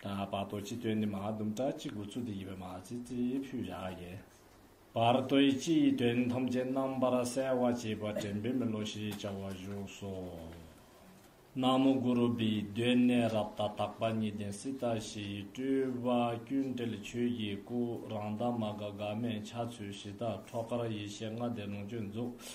ད་བར་རྡོ་རྗེ་སྟོན་ནི་མ་དུམ་བཀྲ་གཅིག་དགུ་ཚུ་དི་ཡི་བའི་མ་ཙི་ཙི་ཕུད་བཞག་ཡེ། བར་རྡོ་ཡི་སྤྱི་ཡི་དོན་ཐམས་ཅད་རྣམ་པར་གསལ་བར་བྱེད་པ་དྲན་པའི་མི་ལོ་ཞེས་བྱ་བ་བཞུགས་སོ། ན་མོ་གུ་རུ་བི་གདོད་ནས་རབ་ཏ་དག་པ་ཉིད་ལྡན་སི་ཏ་ཞི་ཡི་སྤྲུལ་པ་ཀུན་བྲལ་ཆོས་ཀྱི་སྐུ་རང་དག་མ་འགགས་འགག་མེད་འཆར་ཚུལ་གཞི་བདག་ཁྲོ་གར་ཡེ་ཤེས་ལྔ་ལྡན་ལོངས་སྤྱོད་རྫོགས་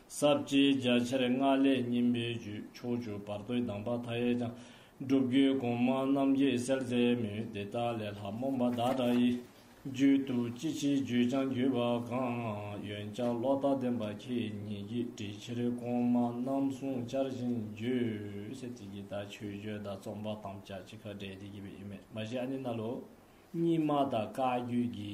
ཟབ་རྒྱས་རྒྱ་ཆེར་སྔགས་ལས་སྙིམ་པའི་རྒྱུད་ཕྱོགས་བཅུ་བར་དོའི་གདམས་པ་མཐའ་ཡས་ཀྱང། སྒྲུབ་རྒྱུད་གོང་མ་རྣམས་ཀྱི་གསལ་མཛད་མུས་དེ་དག་ལས་ལྷ་མོ་འབའ་ཟླ་སྒྲ་ཡི་རྒྱུད་དུ་ཅི་ཕྱིའི་རྒྱུད་ཀྱང་བརྒྱུད་པ་གང་ཡོན་བཅག་ལོག་ལྟ་བདེན་པ་ཁྱེད་ཉིད་ཀྱིས་དྲིལ་ཕྱིར་གོང་མ་རྣམས་གསུང་བྱར་བཞིན་བརྒྱུད། སེ་ཐིག་གི་དག་ཆོས་བརྗོད་བདག་རྩོམ་པ་དམ་བཅའ་ཅི་ཁ་བྲལ་བདེ་སྐྱིད་པའི་ཡུལ་མེད་མ་གཞི་ཨ་ནི་རྣ་ལོ། གཉིས་སྨྲ་དང་བཀའ་བརྒྱུད་ཀྱི་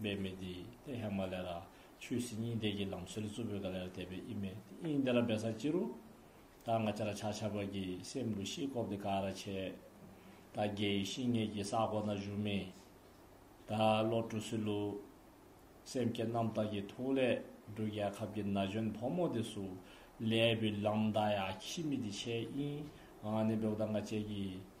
འབད་མེད་དེ་ཏེ་ཧེ་མ་ལེ་ར་ཆུའི་སིལ་སྙིང་འདེགས་ཀྱི་ལམ་སྲོལ་གཙོ་བོའི་ག་ལེར་བལྟས་པས་ཨི་མེད་དེ་དབྱིངས་དེ་ར་འབད་སར་ཅི་རུ། ད་ང་ཅ་ར་ཆག་ཆག་པ་གི་སེམས་འདུ་ཤེས་བཀོབ་དེ་ག་ར་བྱས། ད་རྒྱལ་ཡི་ཤིང་ངད་ཀྱི་སར་གོ་ན་བཞུགས་མི། ད་བློ་གྲོས་སུ་ལུ། སེམས་བསྐྱེད་རྣམ་དག་གི་ཐུགས་ལས་འབྲུག་རྒྱལ་ཁབ་ཀྱི་ན་གཞོན་ཕོ་མོ་དེ་སུ་ལས་བུ་ལམ་ད་ཡ་ཁྱི་མི་དེ་ཆེ་དབྱིངས་ཨ་ནི་འབྲུག་ད་ང་བཅས་ཀྱི།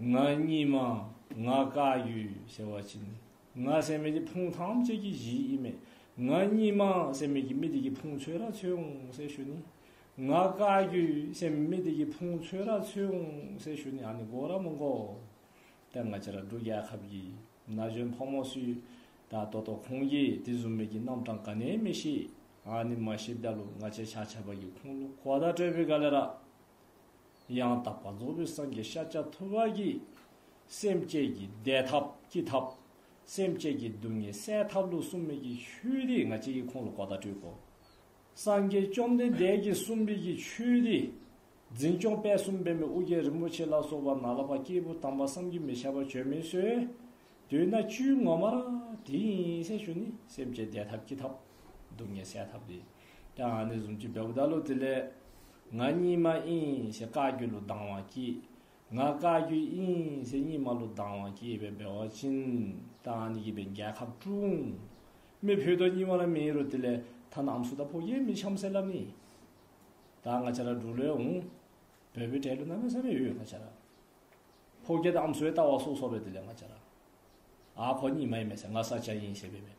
ང་གཉིས་མ་ང་དགའ་ཡུལ་ཟེར་བ་ཅི་ནི་ང་སེམས་མེད་ཀྱི་ཕུང་ཐམས་ཅད་ཀྱི་གཞི་ཨི་མེད་ང་གཉིས་མ་སེམས་མེད་ཀྱི་མི་དེ་ཀྱི་ཕུང་ཚོད་ར་ཚོད་འོང་སེ་ཞུ་ནི་ང་དགའ་ཡུལ་སེམས་མེད་དེ་ཀྱི་ཕུང་ཚོད་ར་ཚོད་འོང་སེ་ཞུ་ནི་ཨ་ནི་མགོ་ར་མོ་མགོ་དེ་ང་ཅི་ར་འབྲུག་རྒྱལ་ཁབ་ཀྱི་ན་གཞོན་ཕོ་མོ་སུས་ད་ལྟོ་ལྟོ་ཁོང་གྱིས་དེ་བཟུང་མེད་ཀྱི་རྣམ་གྲངས་ག་ནས་མི་ཤེས་ཨ་ནི་མ་ཤེས་བདལ་ལོ་ང་ཅི་ཆ་ཆ་བ་ཀྱི་ཁུང་ལོ་གོ་ད་སྤྲོད་པའི་ག་ལེ་ར། ཡང་དག་པ་རྫོགས་པའི་སངས་རྒྱས་ཤཱཀྱ་ཐུབ་པ་ཀྱིས། སེམས་བསྐྱེད་ཀྱི་བཟླས་ཐབས་བསྐྱེད་ཐབས། སེམས་བསྐྱེད་ཀྱི་སྡུག་བསྔལ་སེལ་ཐབས་ལུགས་གསུམ་མིག་གི་ཆོས་འདི་ང་གཅིག་གིས་ཁོང་ལ་གོ་བརྡ་སྤྲོད་དོ། སངས་རྒྱས་བཅོམ་ལྡན་འདས་ཀྱིས་གསུངས་མིག་གི་ཆོས་འདི། འཛིན་སྐྱོང་དཔལ་གསུམ་སྤེལ་མའི་ཨུ་རྒྱན་རིན་པོ་ཆེ་ལ་སོགས་པ་ན་ལ་བ་སྐྱེས་བུ་དམ་པ་བསམ་གྱིས་མི་ཁྱབ་པ་བྱོན་མི་གསོལ། དུས་ན་བཅུའི་ངོ་མར། དེ་ཡིན་སེམས་ཞུ་ནི་སེམས་བསྐྱེད་བཟླས་ཐབས་བསྐྱེད་ཐབས། སྡུག་བསྔལ་སེལ་ཐབས་འདི། ཀྱང་ཨ་ནི་གཟུངས་ཀྱི་བདག་པོ་བདག་བློ་དེ་ལས། ང་གཉིས་མ་ཨིན་ཞེས་བཀའ་བརྒྱུད་ལོ་ལྡང་བ་གྱིས། ང་བཀའ་བརྒྱུད་ཨིན་ཞེས་གཉིས་མ་ལོ་ལྡང་བ་གྱིས་བས་སྦལ་བ་བྱིན། ཀྱང་ཨ་ནི་གྱིས་པའི་རྒྱལ་ཁབ་བསྐྲུན། མི་བུ་དོ་གཉིས་བ་ར་མི་རུ་དེ་ལས། ཐ་ན་ཨམ་སུ་ད་ཕོ་རྒྱལ་མི་བྱམས་སེ་ལ་ནི། ད་ང་བྱ་ར་འབྲུག་ལོའི་འོང། བོད་བོད་བྲལ་ལོ་ན་མི་ས་མི་ཡོད་ང་བྱ་ར། ཕོ་རྒྱལ་ད་ཨམ་སུའི་ལྟ་བ་སོགས་སོགས་པའི་དེ་ལས་ང་བྱ་ར། ཨ་ཁོ་གཉིས་མ་ཡིན་མེད་ས་ང་ས་སྐྱ་ཡིན་ཞེས་པའི་མེད།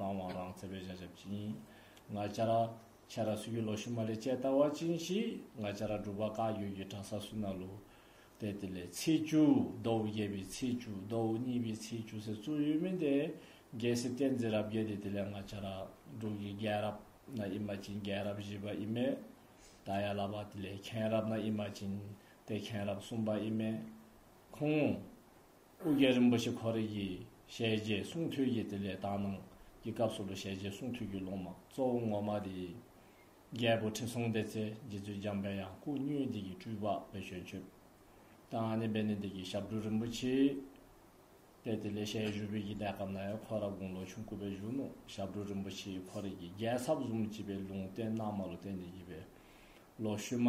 རང་དབང་རང་བཙན་པའི་བྱ་བཞག་བཅིངས། ང་ཅག་ར་ཆས་ར་སུ་ཡི་ལོ་ཤུ་མ་ལས་བཅད་ལྟ་བ་བཅིངས་ཤིག་ང་ཅག་ར་སྒྲུབ་པ་བཀའ་ཡོད་ཀྱི་གྲྭ་ས་སུ་ན་ལུ། དེ་དེ་ལས་ཚེས་བཅུ་མདོ་དབུ་བརྒྱད་པའི་ཚེས་བཅུ་མདོ་དབུ་གཉིས་པའི་ཚེས་བཅུ་ཟེར་གཙོ་ཡོད་མིན་ཏེ། རྒྱལ་སྲིད་བསྟན་འཛིན་རབ་རྒྱས་དེ་དེ་ལས་ང་ཅག་ར་སྒྲུབ་ཀྱི་རྒྱལ་རབས་ན་ཨི་མ་བཅིངས་རྒྱལ་རབས་བཞི་པ་ཨི་མེ། ད་ཡ་ལ་བ་དེ་ལས་མཁན་རབས་ན་ཨི་མ་བཅིངས་དེ་མཁན་རབས་གསུམ་པ་ཨི་མེ། ཁུངས། སྐུ་སྒེར་རིན་པོ་ཆེ་འཁོར་གྱིས་ཞལ་རྗེས་གསུང་ཐོས་ཀྱི་དེ་ལས་དག་སྣང་གི་སྐབས་སུ་ལོ་ཞལ་རྗེས་གསུང་ཐོས་རྒྱུད་ལུང་མ་གཙོ་བོ་ངོ་མ་དེ་ཡིན། རྒྱལ་པོ་ཁྲི་སྲོང་ལྡེ་ཚེ་རྗེ་བཙུན་འཇམ་དཔལ་ཡང་སྐུ་བསྙུན་འདི་ཀྱི་སྤྲུལ་པ་བའི་ཞོན་ཆུབ་དང་ཨ་ནེ་སྦེ་ནེ་འདི་ཀྱི་ཞབས་དྲུང་རིན་པོ་ཆེ་སྟེ་དེ་ལས་ཞལ་བཞུགས་བོད་ཀྱི་གནས་སྐབས་ན་ཡང་ཁོ་ར་དགུང་ལོ་ཆུང་སྐུ་བའི་གཞུང་ནོ་ཞབས་དྲུང་རིན་པོ་ཆེའི་འཁོར་གྱིས་རྒྱལ་ཚབ་ཟུང་བགྱིས་པའི་ལུང་བསྟན་སྣང་མ་ལོ་བསྟན་འདི་བགྱིས་པའི་ལོ་ཤུལ་མ།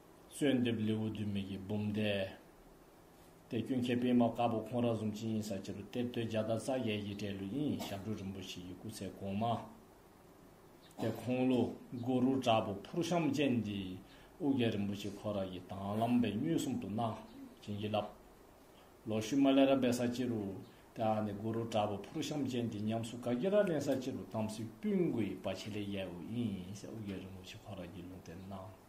གསོལ་འདེབས་ལེའུ་བདུན་མིག་གི་འབུམ་སྡེ། དེ་སྐྱོན་མཁས་པད་མ་དཀར་པོ་ཁོང་རག་ཟུང་ཅི་ཡིན་ས་ཆེ་རུ་གཏེར་སྟོན་རྒྱ་དར་ས་གའི་ཡི་གྲལ་ལུ་དབྱིན་ཡིག་ཞབས་དྲུང་རིན་པོ་ཆེ་ཡི་སྐུ་ཚེ་གོང་མ། དེ་ཁོང་ལུ་གུ་རུ་དྲག་པོ་ཕུར་བཤམས་ཅན་འདི་ཨུ་རྒྱན་རིན་པོ་ཆེ་ཁོ་རང་གི་དྭང་བླངས་པས་མྱོས་གསུམ་དུ་གནང་བྱིན་གྱིས་བརླབས། ལོ་བཞི་མ་ལེ་ར་སྦས་ས་ཆེ་རུ་དེའང་ནི་གུ་རུ་དྲག་པོ་ཕུར་བཤམས་ཅན་འདི་ཉམས་སུ་ག་གེ་ར་གླིང་ས་ཆེ་རུ་དམ་སྲི་སྤུན་དགུ་ཡི་བ་ཆེ་ལེ་ཡའི་ཨུ་དབྱིན་ཡིན་སའི་ཨུ་རྒྱན་རིན་པོ་ཆེ་ཁོ་རང་གི་ལུང་བསྟན་གནང།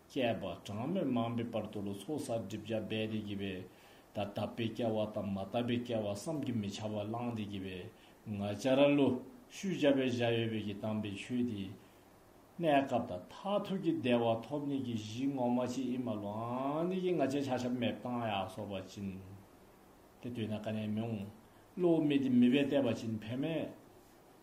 བཅས་པ་གྲངས་མེད་མང་པོའི་བར་དུ་ལོ་ཚོགས་གསར་སྒྲིབ་བྱ་སྦས་ཏེ་བགྱིས་པས། ད་ལྟ་བས་བསྐལ་བ་དང་མ་ལྟ་བས་བསྐལ་བ་བསམ་གྱིས་མི་ཁྱབ་པ་བླངས་ཏེ་བགྱིས་པས། ང་ཅག་ར་ལོ་ཤུལ་བྱ་བའི་གཞལ་ཡས་བས་ཀྱིས་བཏང་པའི་ཆོས་དེས། གནས་སྐབས་དང་མཐའ་ཐུག་གི་བདེ་བ་ཐོབ་ནས་ཀྱི་གཞི་ངོ་མ་ཅི་ཨི་མ་ལོའང་ནི་ཀྱི་ང་ཅག་བྱ་ཞབས་མེད་བཏང་ཡག་སོགས་པ་བྱིན། དེ་དུས་ན་ཀ་ནས་མི་འོང། བློ་མི་དེ་མི་བས་བལྟས་པ་བྱིན་ཕན་མེད།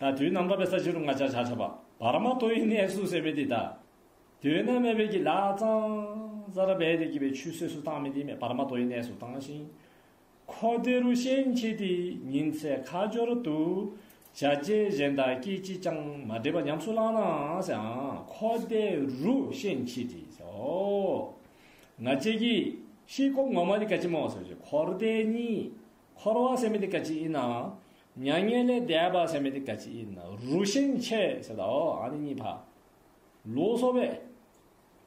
ད་དུས་ནམ་མཁའ་པའི་ས་གཞི་རུ་ལྔ་ཆར་ཆར་ཆར་བབ། བར་མ་དོ་ཡི་གནས་སུ་སེར་བས་འདི་གདའ། དུས་ནམ་མེ་བས་ཀྱི་ལ་གཙང། ས་ར་བས་དེ་སྐྱིད་པའི་ཆུ་སོས་སུ་བཏང་མི་དེ་མེ་བར་མ་དོ་ཡི་གནས་སུ་བཏང་ཞིང། ཁོ་དེ་རུ་ཤེས་མཁྱེན་དེ་ཉིན་ཚེ་ཁ་སྦྱོར་དུ། བྱ་རྗེས་གཞན་དག་སྐད་ཅིག་ཅང་མ་འདྲེས་པ་ཉམས་སུ་བླངས་ནའང་ཟེར་ཨང་ཁོ་དེ་རུ་ཤེས་མཁྱེན་དེ་ཟེར་ཨོ། ང་བཅས་ཀྱི། ཤེས་ཁོབ་ངོ་མ་དེ་ག་ཅི་མོ་ཟེར་བྱས་འཁོར་འདས་གཉིས། འཁོར་བ་སེམས་མེད་དེ་ག་ཅི་ཡིན་ནའང། མྱ་ངན་ལས་འདས་པ་སེམས་མེད་དེ་ག་ཅི་ན་རུ་ཤིང་ཆེ་ཟེར་དའོ་ཨ་ནི་གཉིས་ཕག་ལུག་གསོ་བས།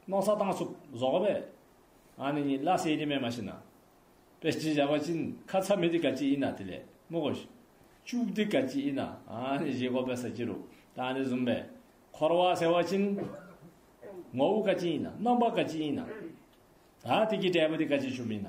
སྣང་ས་དང་སུབ་ཟོག་བས། ཨ་ནི་གཉིས་བླ་སེ་ཡེ་མེད་མ་ཤི་ན། པས་ཅི་བྱ་བ་ཅིན་ཁ་ཚ་མེད་དེ་ག་ཅི་ཨི་ན་དེ་ལས་མོ་གོ། ཅུག་དེ་ག་ཅི་ཨི་ན་ཨ་ནི་བཞི་གོ་པས་ས་ཅི་རུ་ད་ཨ་ནི་ཟུམ་པས། འཁོར་བ་ཟེར་བ་ཅིན། ངོ་བོ་ག་ཅི་ཨི་ན་རྣམ་པ་ག་ཅི་ཨི་ན། ད་དེ་གི་འབྲས་བུ་དེ་ག་ཅི་ཆུ་མིན་ན།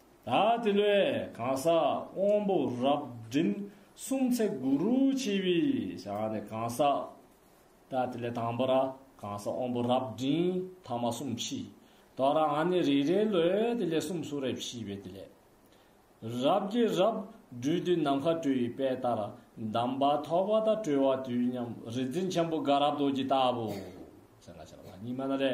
ད་དེ་ལོའི་གང་ཟག་དབང་པོ་རབ་འབྲིང་གསུམ་ཚེ་གུ་རུ་ཆེ་བའི་ཞག་ནས་གང་ཟག། ད་དེ་ལོའི་དང་པོ་ར་གང་ཟག་དབང་པོ་རབ་འབྲིང་ཐ་མ་གསུམ་ཕྱིས་དོ་ར་ང་ནི་རེ་རེ་ལོའི་དེ་ལས་གསུམ་སུ་རེ་ཕྱིས་པའི་དེ་ལས། རབ་དགེ་རབ་སྦྲུལ་དུས་ནམ་མཁའ་སྤྲོས་ཡི་དཔལ་ལྟར་གདམས་པ་ཐོག་པ་དང་གྲོལ་བ་དུས་མཉམ་རིག་འཛིན་ཆེན་པོ་དགའ་རབ་རྡོ་རྗེ་ལྟ་བུ། སེང་གེ་ཕྱག་ལ་ཉི་མ་ན་རེ།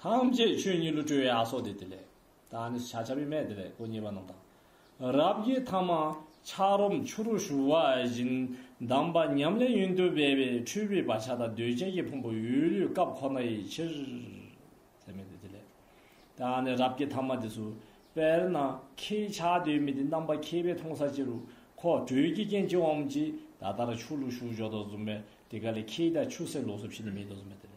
ཐམས་ཅད་ཆོས་ཉིད་ཀླུ་སྤྲུལ་ཡག་སོགས་ཏེ་དེ་ལས། ད་ནི་བྱ་བྱ་བའི་མས་དེ་ལས་གོ་ཉེས་པ་རྣམས་དང། རབ་དགྱེས་ཐ་མ་འཁྱག་རོམ་ཆུ་རུ་ཞུ་བ་བཞིན་གདམས་པ་ཉམས་ལེན་ཡུན་དུ་སྦས་པའི་འཁྲུལ་པའི་བག་ཆགས་དང་འདོད་ཆགས་ཀྱི་ཕུང་པོ་ཡུལ་ལུས་སྐབས་ཁོ་ན་ཡི་ཕྱིར། ཚད་མེད་དེ་དེ་ལས། ད་ནི་རབ་དགྱེས་ཐ་མ་དེ་སུ། དཔེར་ན་ཁྱེད་ཅག་དོན་མེད་དེ་རྣམ་པ་མཁས་པའི་མཐོང་ས་ཅི་རུ་ཁོ་བགྲོད་ཀྱི་རྐྱེན་ཅི་འོང་ཅི། ད་ལྟར་ཆུ་ལུག་ཤུགས་འཇོག་དང་བཟུང་བས་དེ་ག་ལས་ཁྱེད་ཅག་ཆུ་སེར་ལོག་སོ་ཕྱི་ནས་མེ་ཏོག་བཟུང་བས་དེ་ལས།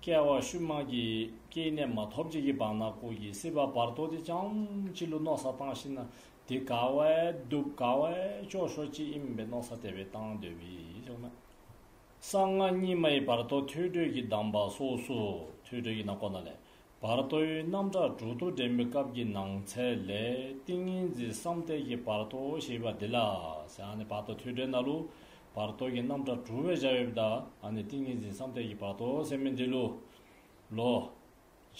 སྐྱེ་བ་ཤུལ་དམག་གི་སྐྱེས་གནས་མ་ཐོབ་ཅིག་གི་བང་ན་བཀོད་ཀྱིས་སྲིད་པ་བར་དོ་དེ་ཅང་ཅི་ལུ་རྣོ་ས་བཏང་བཞིན་ན་དེ་དགའ་བས་སྡུག་དགའ་བས་སྐྱོ་ཤོག་ཅི་ཨེ་མིན་པའི་རྣོ་ས་དེ་བས་བཏང་འདོད་བས་ཅང་མ་གསང་སྔགས་རྙིང་མ་ཡི་བར་དོ་ཐོས་གྲོལ་གྱི་གདམས་པ་སོ་སོ་ཐོས་གྲོལ་གྱི་ན་གོ་ན་ལས་བར་དོའི་རྣམ་གྲངས་དྲུག་ཏུ་འདྲེན་པའི་སྐབས་ཀྱི་ནང་ཚན་ལས་ཏིང་ངེ་འཛིན་བསམ་གཏན་གྱི་བར་དོ་ཞེས་པ་འདི་ལ། བར་དོ་ཐོད་སྦྲེལ་ན་ལུ། བར་དོ་གྱི་རྣམ་གྲངས་དྲུག་བས་བྱ་ཡོད་པ་དག་ཏིང་ངེ་འཛིན་བསམ་གཏན་གྱི་བར་དོ་ཟེར་མིན་འདི་ལུ། ལོ།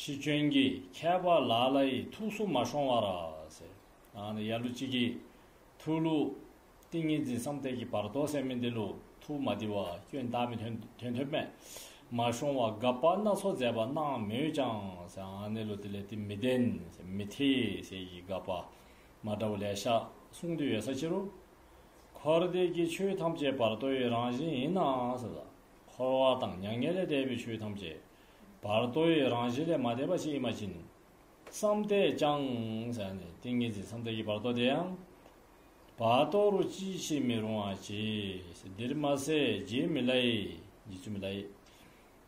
ཕྱིས་བྱོན་གྱི་ཁྱད་པར་ལ་ལ་ཡི་ཐུགས་སུ་མ་ཤོང་བར། ཡར་ལུ་གཅིག་གིས། ཐུགས་ལུ། ཏིང་ངེ་འཛིན་བསམ་གཏན་གྱི་བར་དོ་སེམས་མེད་འདི་ལུགས་ཐུགས་མ་བདེ་བ་སྐྱོན་བདག་མེད་དོན་དོན་དོན་མེད་མ་ཤོང་བ་དགག་པ་སྣ་ཚོགས་མཛད་པ་སྣང་མོད་ཀྱང། གནས་ལུགས་དེ་ལས་དེ་མི་བདེན། མི་འཐད། ཞེས་ཀྱི་དགག་པ་མ་འདྲ་བ་ལས་བཤགས་གསུང་དུ་ཡོད་ས་ཕྱིར་རོ། འཁོར་འདས་ཀྱི་ཆོས་ཐམས་ཅད་བར་དོ་ཡི་རང་བཞིན་ཡིན་ནའང། འཁོར་བ་དང་མྱ་ངན་ལས་འདས་པའི་ཆོས་ཐམས་ཅད་བར་དོ་ཡི་རང་བཞིན་ལས་མ་འདས་པ་ཞིག་ཡིན་མ་བཞིན། བསམ་གཏན་ཀྱང། ཏིང་ངེ་འཛིན་བསམ་གཏན་གྱི་བར་དོ་དེའང། བ་ཏོ་རུ་ཅི་བྱེད་མི་རུང་བ་བྱས། འདིར་མ་ཟད་རྗེས་མི་ལའི། རྗེས་ཆུད་མི་ལའི།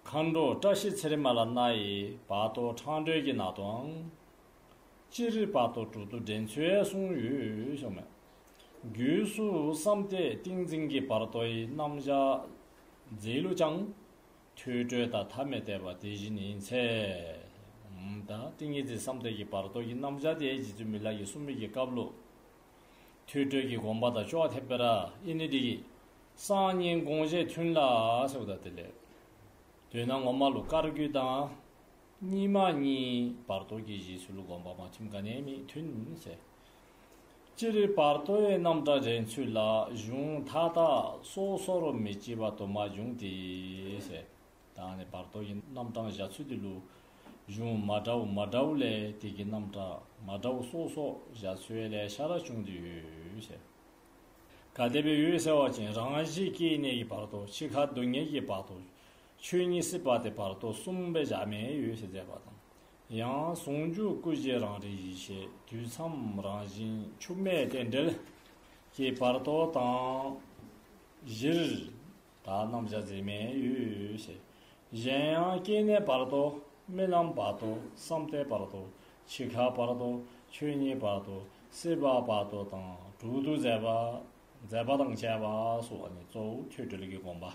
མཁའ་འགྲོ་བཀྲ་ཤིས་ཚེ་རིང་མ་ལ་མནའ་ཡི་བ་ཏོ་འཕྲང་སྒྲོལ་གྱི་ནག་ཏོའང། སྤྱིར་བ་ཏོ་དྲུག་ཏུ་འདྲེན་ཚུལ་གསུངས་ཡོད་ཤོག་མོད། རྒྱུད་སུ་བསམ་སྟེ་ཏིང་འཛིན་གྱི་བར་དོའི་རྣམ་གཞག་མཛད་ལུགས་ཀྱང། ཐོས་གྲོལ་དང་ཐ་མི་དད་པ་དེ་བཞིན་ཡིན། ཚད་དང་ཏིང་ངེ་འཛིན་བསམ་གཏན་གྱི་བར་དོ་ཡི་རྣམ་བྱང་དེ་རྗེ་བཙུན་མི་ལ་ཡི་གསུང་མིག་གི་བཀའ་བློ། ཐོས་གྲོལ་གྱི་དགོངས་པ་དང་སྤྱོ་བ་ཐེབས་པས་ར་ཨི་ནི་ཏི་ཀི། གསང་སྙིང་དགོངས་བཞེད་མཐུན་ལ་ཟེར་བ་དང་དེ་ལས། འདོད་ན་ངོ་མ་ལུགས་དཀར་རྒྱུད་དང། གཉིས་མ་གཉིས་བར་དོ་གྱི་གཞི་ཚུལ་དགོངས་པ་མ་མཐུན་ག་ནས་མི་མཐུན། སྤྱིར་རིགས་པར་ལྟོས་ཡས་རྣམ་གྲངས་རེའི་ཚུལ་ལ་གཞུང་མཐའ་དག་སོ་སོར་མི་བརྩི་བ་དུ་མ་འབྱུང་སྟེ། ད་ནི་བར་དོ་ཡི་རྣམ་གྲངས་བཞག་ཚུལ་དེ་ལུགས། གཞུང་མ་འདྲ་བོ་མ་འདྲ་བོ་ལས་དེ་གི་རྣམ་གྲངས་མ་འདྲ་བོ་སོ་སོར་བཞག་ཚུལ་ལས་ཤ་ར་བྱུང་དུ་ཡོད། ག་དེ་བས་འོད་གསལ་བ་ཅན་རང་བཞིན་སྐྱེ་གནས་ཀྱི་བར་དོ་འཆི་ཁ་སྡུག་བསྔལ་གྱི་བར་དོ་ཆོས་ཉིད་སྲིད་པ་སྟེ་བར་དོ་གསུམ་པའི་བཞག་མེད་ཡོད་ཅེས་མཛད་པ་དང། ཡང་ཟུང་འཇུག་སྐུ་བཞི་རང་རིག་ཡེ་ཤེས་དུས་མཚམས་རང་བཞིན་འཆུགས་མེད་རྟེན་འབྲེལ་གྱི་བར་དོ་དང། བཞིར། དག་སྣང་བྱ་འཛིན་མེད་ཡུལ་ཞེས་གཞན་ཡང་སྐྱེ་གནས་བར་དོ་རྨི་ལམ་བར་དོ་བསམ་གཏན་བར་དོ་འཆི་ཁ་བར་དོ་ཆོས་ཉིད་བར་དོ་སྲིད་པ་བར་དོ་དང་དྲུག་ཏུ་མཛད་པ། མཛད་པ་དང་བཅས་པ་སོགས་ནི་གཙོ་བོ་ཆོས་འབྲེལ་གྱི་དགོངས་པ།